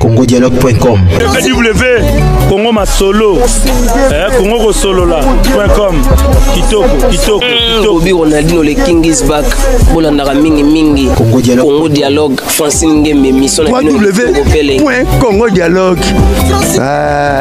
congodialogue.com ww congo masolo eh, congo kosolola.com kitoko kitoko hmm, bobi ronaldino le king is back bolandaka mingi mingi congo dialogue francine ngembe mission na bino ww congo dialogue ah.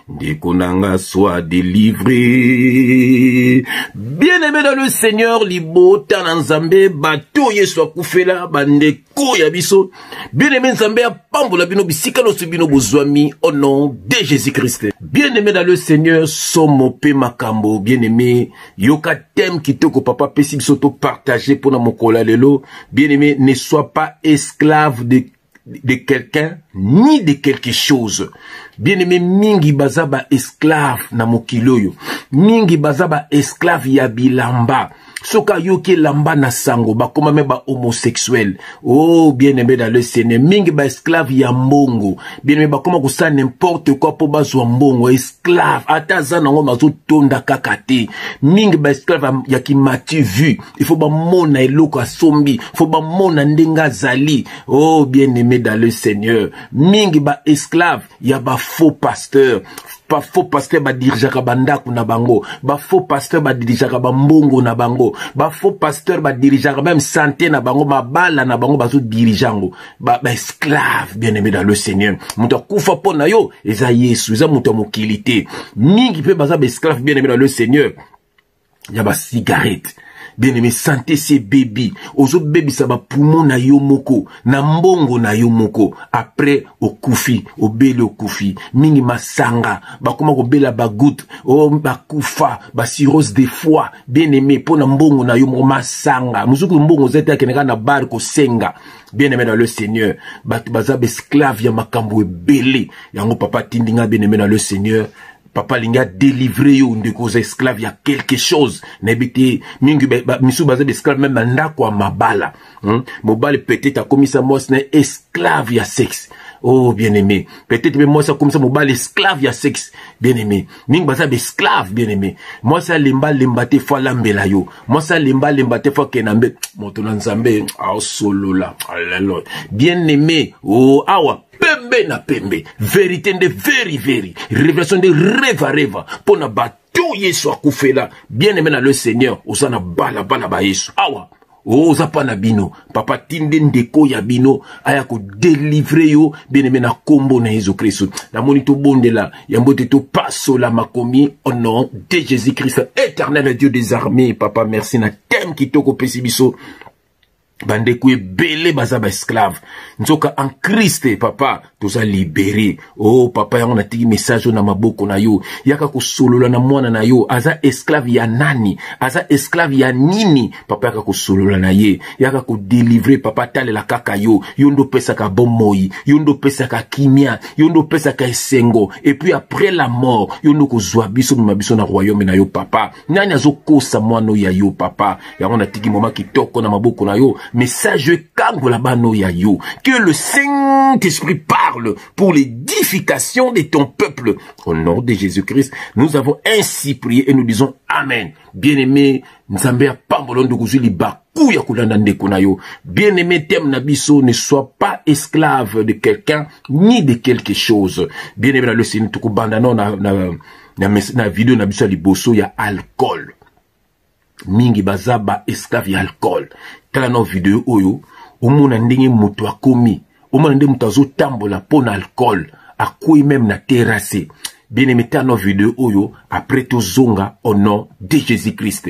Ndeko nanga soit délivré. Bien-aimé dans le Seigneur, libota na Nzambe, bato Yesu akufela, bandeko ya biso. Bien-aimé Nzambe apambola bino bisika loso bino bozwami au nom de Jésus-Christ. Bien-aimé dans le Seigneur, somo pe makambo, bien-aimé, yoka thème kitoko papa pesi biso to partager pona mokola lelo. Bien-aimé, ne sois pas esclave de de quelqu'un ni de quelque chose bien aimé mingi baza ba esclave na mokili oyo mingi baza ba esclave ya bilamba soki ayoki elamba na sango bakoma me ba homosexuel o oh, bien aimé dans le seigneur mingi ba esclave ya mbongo bien aimé bakoma kosala n'importe quoi mpo bazwa mbongo esclave ata aza nango mazotonda kaka te mingi ba esclave ya kimati vue il faut bamona eloko asombi faut bamona ndenge azali oh bien aimé dans le seigneur mingi baesclave ya bafaux pasteur bafaux pasteur badirigeaka bandako na bango bafaux pasteur badirigeaka bambongo na bango bafaux pasteur badirigeaka meme sante na bango mabala na bango bazodirige yango baesclave bien aimé dans le seigneur moto akufa mpo na yo eza yesu eza moto ya mokili te mingi mpe baza baesclave bien aimé dans le seigneur ya ba cigarette bien aimé sante se bebi ozobebisa bapumo na yo moko na mbongo na yo moko apres okufi obeli okufi mingi masanga bakoma kobela bagoute o oh, bakufa basirose de foi bien aimé mpo na mbongo na yo moko masanga mosuku mbongo oza te akendaka na bar kosenga bien aimé na le seigneur bato baza baesclave ya makambo ebele yango papa atindi ngai bien aimé na le seigneur papa alingi adelivre yo ndeko oza esclave ya quelque chose nayebi te mingi misusu baza baesclave meme na ndako ya mabala hmm? mobali peut-être akomisa mwasi na esclave ya sexe oh bien-aimé peut-être mpe mwasi akomisa mobali esclave ya sexe bien-aimé mingi baza baesclave bien-aimé mwasi alemba alemba te fo alambela yo mwasi alemba alemba te fo akenda mbe moto na nzambe aosolola alelo bien-aimé o oh, awa pembe na pembe verite nde veri veri revelation nde reva reva mpo na bato yesu akufela bien aime na le seigneur oza na balabala ba yesu awa oh, oza mpa na bino papa tinde ndeko ya bino aya kodelivre yo bien aime na nkombo na yesu kristu namoni tobondela yango te topasola makomi au nom de jésus christ éternel dieu des armées papa merci na teme kitoko opesi biso bandeko ebele baza baesclave nzoka en kriste papa toza libere o oh, papa yango natiki message oyo na maboko na yo yaka kosolola na mwana na yo aza esclave ya nani aza esclave ya nini papa yaka kosolola na ye yaka kodelivre papa atalela kaka yo yo nde opesaka bomoi yo nde opesaka kimia yo nde opesaka esengo epuis après la mort yo nde okozwa biso mema biso na royaume na yo papa nani azokosa mwana oyo ya yo papa yango natiki moma kitoko na maboko na yo message ekangola bana oyo ya yo que le saint esprit parle pour l'édification de ton peuple au nom de jésus christ nous avons ainsi prié et nous disons amen bien aimé nzambe ya pambolo nde okozwi libaku ya kolanda ndeko na yo bien aimé teme na biso ne soit pas esclave de quelqu'un ni de quelque chose bien aimé na losini tokobanda nao na, na na, mes, na video na biso ya liboso ya alcool mingi baza ba esclave ya alcool tala na video oyo omona ndenge moto akomi omona nde moto azotambola mpo na alcool akwei meme na terrasse bien aime tala na video oyo après tozonga au nom de jésus christ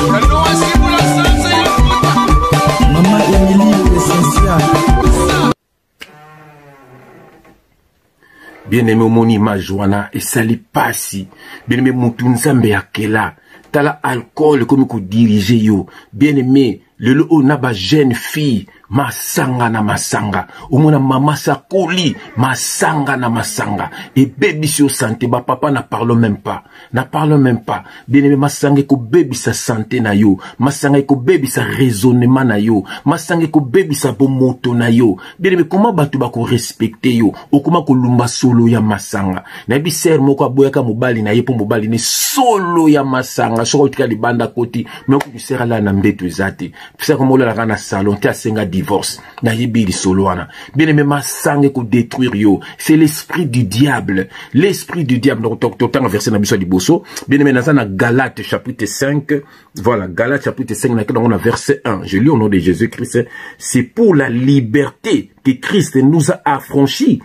bien aimé omoni image wana esali pasi bien aimé mutu nzambe akela tala alcool ekomi kodirige yo bien aimé lelo oyo na bajeune fille masanga na masanga omona mama sakoli masanga na masanga ebebisi yo sante bapapa na parle même pas na parle même pas bieneme masanga ekobebisa sante na yo masanga ekobebisa raisonnement na yo masanga ekobebisa bomoto na yo bieneme koma bato bakorespecte yo okoma kolumba solo ya masanga nayebi sere moko aboyaka mobali na ye mpo mobali ne solo ya masanga soki otika libanda koti me okutu sere alala na mbeto eza te fisa koma olalaka na salon te asenga divorce nayebi lisolo wana bien aime masanga ekodétruire yo c'est l'esprit du diable l'esprit du diable donc totanga verset na biso ya liboso bien aime naza na galate chapitre 5 voilà galate chapitre 5 nakenda yango na verset 1 je lis au nom de jésus christ c'est pour la liberté que christ nous a affranchis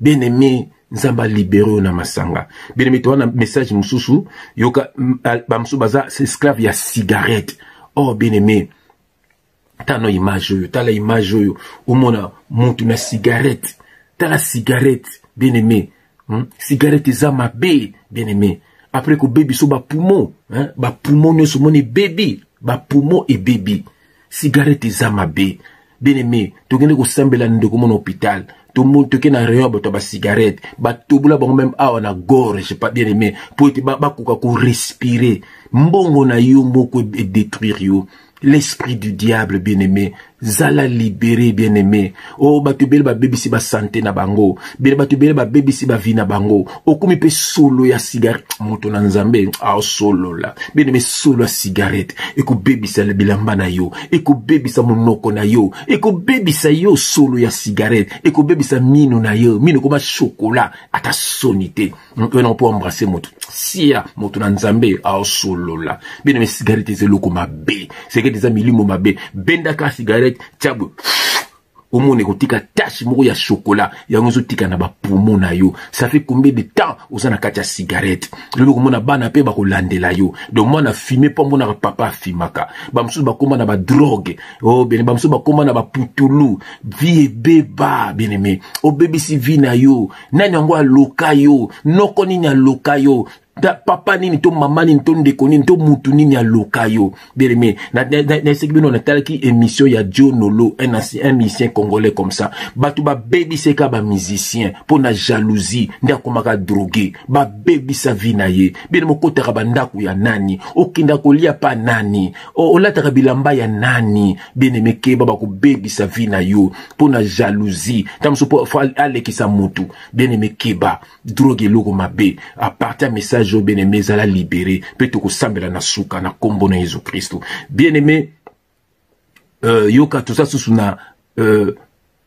bien aimé nzambe alibere yo na masanga bien aimé towana message mosusu yoka bamosusu baza esclave ya cigarette or oh, bien aimé tala na image oyo tala image oyo omona motu na cigarette tala cigarette bien aimé hmm? cigarette eza mabe bien aimé après kobebi so bapumo bapumo nyonso omoni ebebi bapumo ebebi sigarete eza mabe bien aime tokende kosambela ndeko mo na hôpital tomoni toke na rayon ya bato ya basigarete batobola bango meme awa na gorge pa bien aime mpo ete bakoka korespire mbongo na yo moko edetruire yo l'esprit du diable bien aime zala libere bien aime o oh, bato ebele babebisi basante na bango bele bato ebele babebisi bavi na bango okomi mpe solo ya sigarete moto na nzambe aosolola beneme solo ya sigarete ekobebisa bilamba na yo ekobebisa monoko na yo ekobebisa yo solo ya sigarete ekobebisa mino na yo mino ekoma shokola ata soni te moto ena mpo ambrase moto sia moto na nzambe aosolola bino me sigarete eza eloko mabe sigarete eza milimo mabe bendaka sigarete tiabwe omona ekotika tashe moko ya shokola yango ezotika na bapumo na yo ça fait combien de temps oza na kati ya cigarette lobi okomona bana mpe bakolandela yo donc mwana afime mpo amonaka papa afimaka bamosusu bakóma na badrogue o oh, bene bamosusu bakóma na baputulu vie ebeba bien aimé obebisi vie na yo nani yango aloka yo noko nini aloka yo ta papa nini to mama nini to ndeko nini to mutu nini aloka yo beleme naeseki bino natalaki émission ya jonolo un, un musicien congolais comme ça bato babebiseka bamusicien mpo na jalousie nde akomaka drogue babebisa vi na ye bino mokotaka bandako ya nani okenda kolia pa nani olataka bilamba ya nani bien-aime keba bakobebisa vie na yo mpo na jalousie ntango mosusu mpo fo alekisa motu bien-aime keba drogue eloko mabe aparti ya message oyo bien-aime ezala libere mpe tokosambela na suka na nkombo na yesu kristo bien-aime euh, yoka toza susu na euh,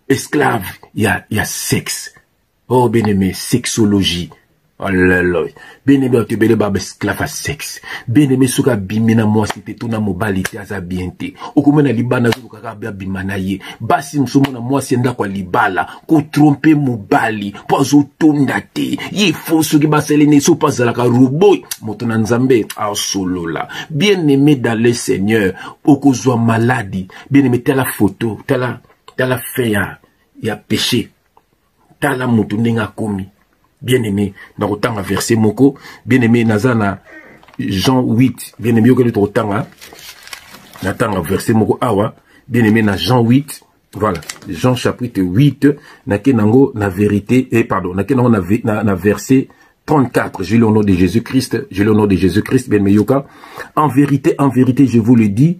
esclave ya, ya sexe oh bien aimé sexologie olelo bien aimé bato ebele ba esclave ya sexe bien aimé soki abimi na mwasi te to na mobali te aza bien te okomona libanda azolukaka abima na ye basi mosusu omona mwasi ya ndako ya libala kotrompe mobali mpo azotonda te ye fo soki basali na ye so mpo azalaka robo moto na nzambe asolola bien aimé dans le seigneur okozwa maladi bien aimé tala foto tala tala fin ya ya péché tala moto ndenge akomi bien aimé nakotanga verse moko bien aimé naza na jean 8 bien aimé yokeli tokotanga natanga verse moko awa bien aimé na jean 8 voilà jean chapitre 8 nake nango na vérité eh, pardon nake nango na, na, na verset 34, je l'ai au nom de Jésus-Christ, je l'ai au nom de Jésus-Christ, bien Yoka. En vérité, en vérité, je vous le dis,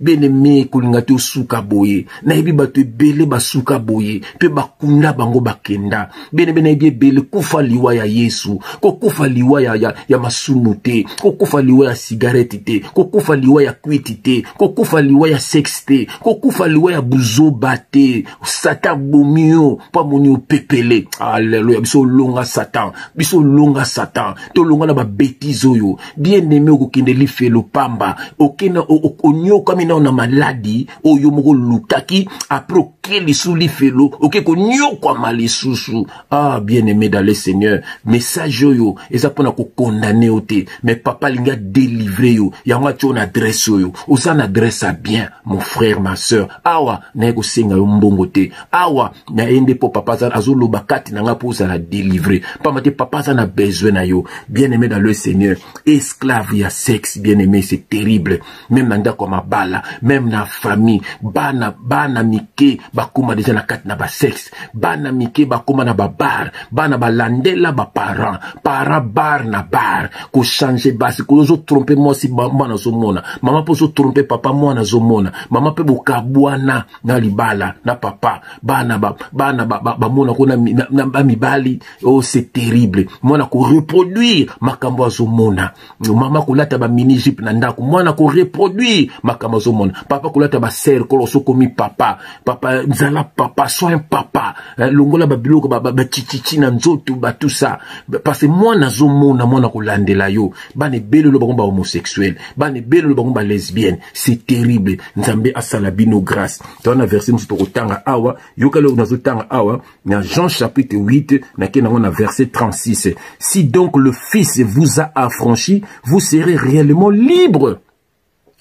bien aime kolinga te osuka boye nayebi bato ebele basuka boye mpe bakunda bango bakenda bien aime nayebi ebele kufa liwa ya yesu kokufa liwa ya, ya, ya masumu te kokufa liwa ya sigareti te kokufa liwa ya kwiti te kokufa liwa ya sexe te kokufa liwa ya buzoba te satan abomi yo mpo amoni yo pepele aleluya biso olonga satan biso olonga satan tolonga na babetize oyo bien aime okokende lifelo pamba okenda onyokami nao na maladi oyo moko olukaki apres oke lisu lifelo oke konyokwama lisusu ah bien aimé dans le seigneur message oyo eza mpo na kokondane yo te mais papa alingi adelivre yo yango atya yo na adresse oyo oza na adresse ya bien mon frère ma soeur awa naye kosenga yo mbongo te awa naye nde mpo papa azoloba kati na ngai mpo ozala delivre mpamba te papa aza na besoin na yo bien aimé dans le seigneur esclave ya sexe bien aimé c'est terrible meme na ndako ya mabala meme na famille bana bana mike bakóma deja na kati na basexe bana mike bakóma na babar bana balandela baparent para bar na bar kochange basi koyo ozotrompe mwasi mwana azomona mama mpe ozotrompe papa mwana azomona mama mpe bokabwana na libala na papa bana bana bamona ko na bamibali o oh, c'est terrible mwana koreproduire makambo azomona mama kolata ba mini jupe na ndako mwana ko reproduire makambo azomona papa kolata ba serre kolo sokomi papa papa zala papa soin papa eh, longola babiloko bachichichi ba, ba na nzoto batou ça parce mwana azomona mwana kolandela yo bana ebele lo bango ba homosexuel bana ebele lo bango ba lesbienne c'est terrible nzambe asala bino grâce towana verse mosusu tokotanga awa yokali oyo nazotanga awa na Jean chapitre 8 nake nango na verset 36 si donc le fils vous a affranchi vous serez réellement libre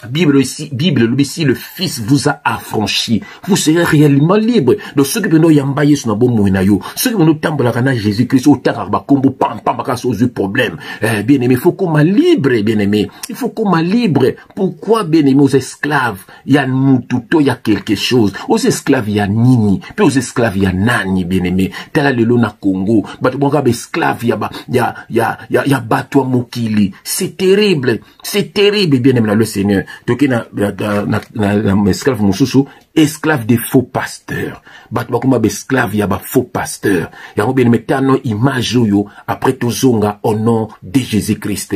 Bible ici, Bible elobi si le fils vous a affranchi, vous serez réellement libre. Donc soki pena oyamba Yesu na bomoi na yo, soki pena otambolaka na Jésus-Christ, otangaka bakombo pam pam bakasi ozwi problème. Eh, bien aimé, il faut koma libre, bien aimé. Il faut koma libre. Pourquoi bien aimé aux esclaves ya mutu to ya quelque chose oza esclave ya nini mpe oza esclave ya nani bieneme tala lelo na congo bato bwaka baesclave ya, ba, ya, ya, ya, ya bato ya mokili c'est terrible c'est terrible bieneme na le seigneur toke na, na, na, na, na, na esclave mosusu esclave de faux pasteur bato bakoma baesclave ya bafaux pasteur yango bieneme tano image oyo après tozonga au nom de jésus christ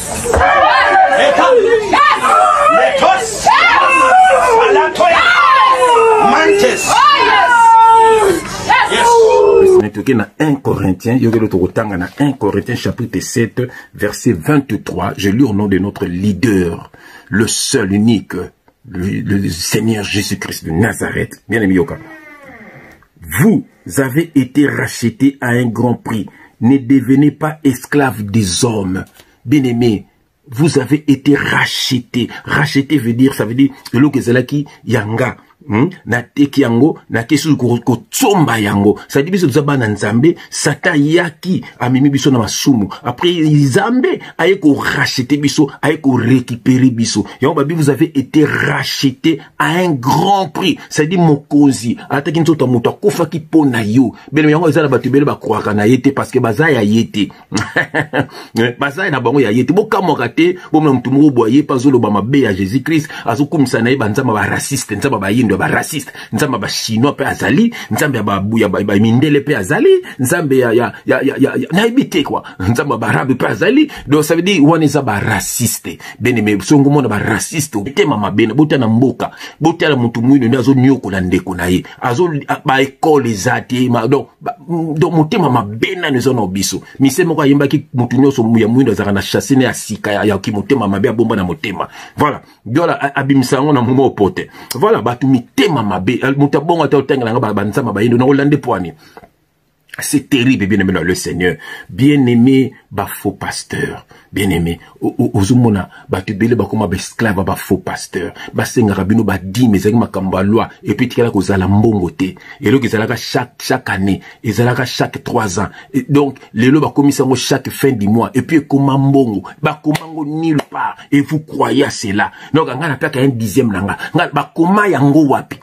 toke na 1 Corinthiens, na 1 Corinthiens chapitre 7 verset 23, je lis au nom de notre leader, le seul unique, le, le Seigneur Jésus-Christ de Nazareth. Bien aimé Yoka. Vous avez été racheté à un grand prix. Ne devenez pas esclave des hommes. Bien-aimé, vous avez été racheté. Racheté veut dire, ça veut dire, eloko ezalaki yanga. Hmm? nateki yango nakei susu kotsomba yango sadi biso toza bana nzambe satan ayaki amemi biso na masumu après nzambe aye korachete biso aye korekipere biso yango babi vous avez été rachete à un grand prix c'est-à-dire mokonzi alataki nzoto ya moto akufaki mpo na yo bino yango eza na bato ebele bakroaka na ye te parce que baza ya ye te eh, baza na bango ya ye te bokamwaka te bomona moto moko boye ye mpe azoloba mabe ya jésus christ azokumisa na ye banzambe baraciste nzambe bayindo ya baraciste nzambe bachinois mpe azali nzambe ya mindele mpe azali nzambe nayebi te kua nzambe ya barabe mpe azali donc ça veut dire wana eza baraciste beneme songo mona baraciste otema mabe na botala mboka botala motu mwino nde azoniokola ndeko na ye baekole eza te donc motema mabe nani eza na biso mise moko ayembaki motu nyonso ya mwino azalaka na chasse ne ya sika ya kimotema mabe abomba na motema voilà dola abimisa yango na momo pote voilà bato mitema mabe moto abongo ata otangela yango banzama bayindo na olande pwani C'est terrible, bien-aimé dans le Seigneur. Bien-aimé, ba faux pasteur. Bien-aimé, ozomona, ba tubele, ba koma, ba esclave, ba faux pasteur. Ba senga rabino, ba di, mais zaki makamba loi. Et puis, tikala ko zala mbongo te. Et donc, zalaka chaque, chaque année. Et zalaka chaque trois ans. Et donc, les lois, ba komisango chaque fin du mois. Et puis, koma mbongo. Ba komango nulle part. Et vous croyez à cela. Donc, anga na peka un dixième nanga. Nga, ba koma yango wapi.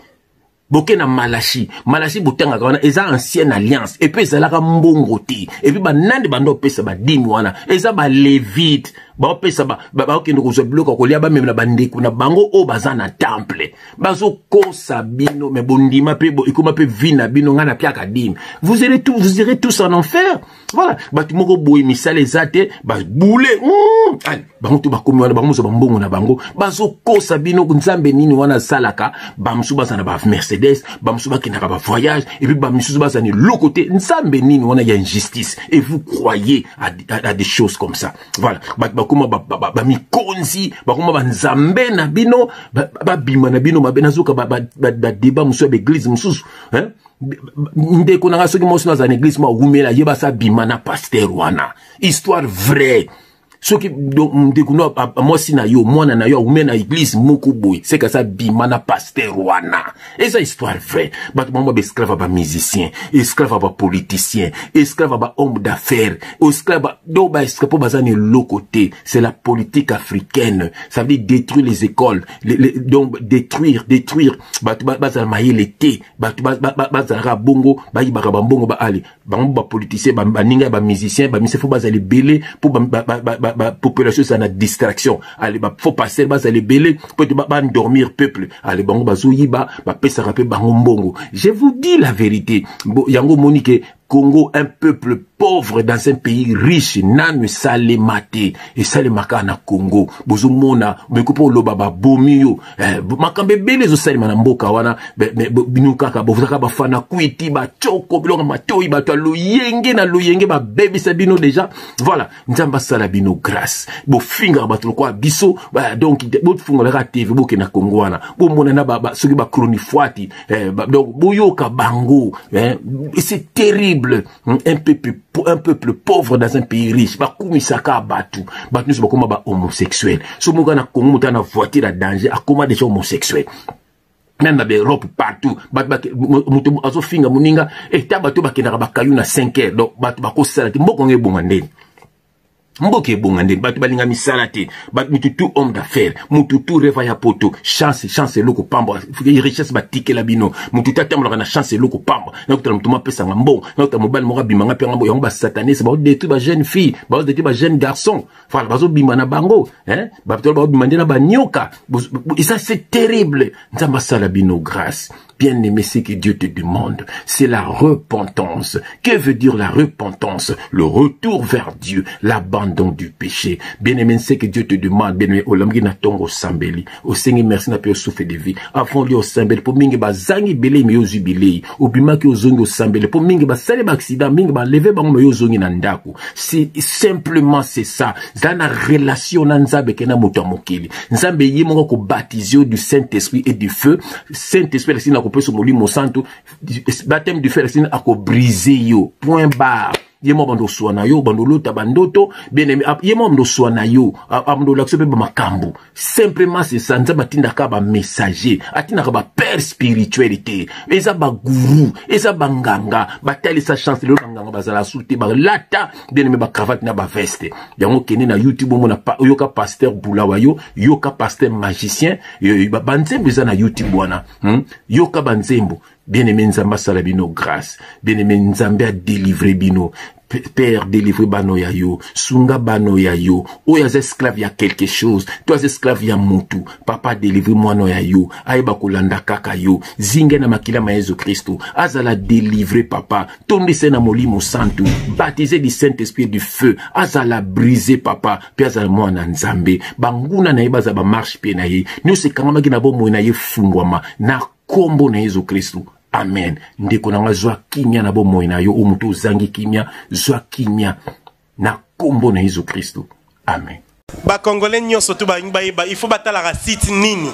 boke na malashi malashi botangaka wana eza ancienne alliance epuis ezalaka mbongo te epuis banande banda opesa badimi wana eza balevite baopesa baokende kozwa biloko ya kolia bamemela bandeko na bango oyo baza na temple bazokosa bino me bondima mpe ekoma mpe vi na bino ngai napiaka dimi vous irez tous en enfer voilà bato moko boye misala eza te babule hmm, ale bango to bakomi wana bango mozo bambongo na bango bazokosa bino nzambe nini wana asalaka bamosusu baza na bamercedes bamosusu bakendaka bavoyage epuis bamisusu baza na eloko te nzambe nini wana ya injustice et vous croyez à, à, à des choses comme ça voilà bato bakoma bamikonzi bakoma banzambe na bino babima na bino mabe nazoka badeba mosusu ya baeglise mosusu ndeko na ngai soki mwasi naza na eglise mwa wumela ye basi abima na paster wana histoire vraie soki ndeko no mwasi na yo mwana na yo awume na eglise moko boye seka sa bima na paster wana eza histoire vraie bato bango baesclave ya bamusicien esclave ya bapoliticien esclave ya bahomme d'affaires esclave do baesclave mpo baza na eloko te c'est la politique africaine ça veut dire détruire les écoles les, les, donc détruire détruire bato bazala mayele te bato bazalaka bongo bayibaka bambongo baali bango bapoliticien baninga ya bamusicien bamise fo bazala ebele mpo bapopulation ezala na distraction ale bafo passer bazala ebele mpo ete bandormir peuple ale bango bazoyiba bapesaka mpe bango mbongo je vous dis la vérité yango omoni ke Congo, un peuple pauvre dans un pays riche, nanu esalema te, esalema kaka na Congo. Bozomona, boyeko mpo oloba babomi yo. Eh, makambo ebele ezosalema na mboka wana, bino kaka bozaka bafana kwiti, bachoko, biloko matoi, bato ya loyenge na loyenge babebisa bino deja. Voilà. nzambe asala bino grâce bofingaka bato lokola biso ba, donc bofungolaka tv bokenda kongo wana bomonana ba, ba, soki bachronifuati eh, ba, donc boyoka bango eh, c'est terrible un peuple, un peuple pauvre dans un pays riche bakumisaka bato bato nyonso bakoma ba homosexuel so moka na kongo moto ana voiture ya danger akoma déjà homosexuel meme na baeurope partout moto azofinga moninga eta eh, bato bakendaka bakayu na 5 heures donc bato bakosala te mboka yango ebonga ndeni mboka ebonga ndeni bato balinga misala te mutu tout homme d'affaire mutu tout reva ya poto chance chance eloko pamba richesse batikela bino mutu te atambolaka na chance eloko pamba nakotala moto mapesanga mbongo nakotala mobali moko abimanga mpe yango basatanise baodetruit bajeune fille baodetruit bajeune garçon voilà bazobima na bango hein? bato babima nde na banyoka et ça c'est terrible nzambe asala bino grâce bien aimé ce que dieu te demande c'est la repentance que veut dire la repentance le retour vers dieu l'abandon du péché bien aimé ce que dieu te demande bien aimé olamki na ntongo osambeli osengi merci na mpe osouffle de vie avant olia osambeli mpo mingi bazangi bilei me yo ozwi bilei obimaki ozongi osambeli mpo mingi basali baaccident mingi baleve bango me yo ozongi na ndako si simplement c'est ça zala na relation na nzambe ke na moto ya mokili nzambe ye moko akobatize yo du saint esprit et du feu saint esprit alakisi na kopesa molimo santu bateme du feu alakisi akobrise yo point barre ye mwa bando oswa na yo bando olota bandoto bien aime ye mwa bando oswa na yo abando olakisa mpe bamakambo simplement c'est ça nzambe atindaka bamessager atindaka bapère spirituel te eza bagourou eza banganga batalisa chance lelo banganga bazala su te balata deneme bacravate na baveste yango kende na youtube omona oyoka pasteur bulawa yo yoka pasteur magicien banzembo eza na youtube wana hmm? yoka banzembo bien aimé nzambe asala bino grâce bien aimé nzambe adelivre bino père délivre bano ya yo sunga bano ya yo oyo aza esclave ya quelque chose to aza esclave ya mutu papa délivre mwana ya yo ayeba kolanda kaka yo zinga na makila ma yesu kristo azala délivre papa tondisa na molimo santu baptise du saint esprit du feu azala brise papa mpe azala mwana nzambe banguna na ye bazala bamarche mpe na ye nyonso ekangamaki na bomoi na ye efungwama na nkombo na yesu kristu amen ndeko na ngai zwa kimia na bomoi na yo o moto ozangi kimia zwa kimia na nkombo na yesu kristu amen bakongole nyonso to balingi bayeba il faut batalaka site nini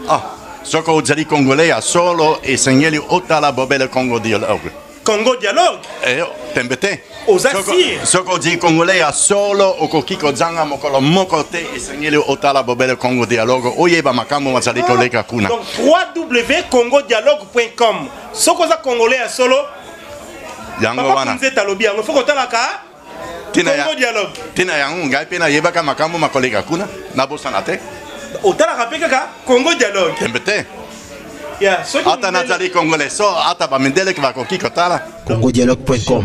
ah. soko ozali congolais ya solo esengeli otala bobele congo dialogue Congo dialogue eh, oh, tembe te oza sire soki ozali congolais ya solo okoki kozanga mokolo moko te esengeli otala bobele congo dialogue oyeba makambo mazali ah, koleka kuna donc www dialogue com soki oza congolais ya solo yango wana nzete alobi yango fo kotalaka tina ya tina yango ngai mpe nayebaka makambo makoleka kuna nabosana te otalaka mpe kaka congo dialogue tembe te ata nazali congolais so ata bamindele bakoki kotala congodialogue.com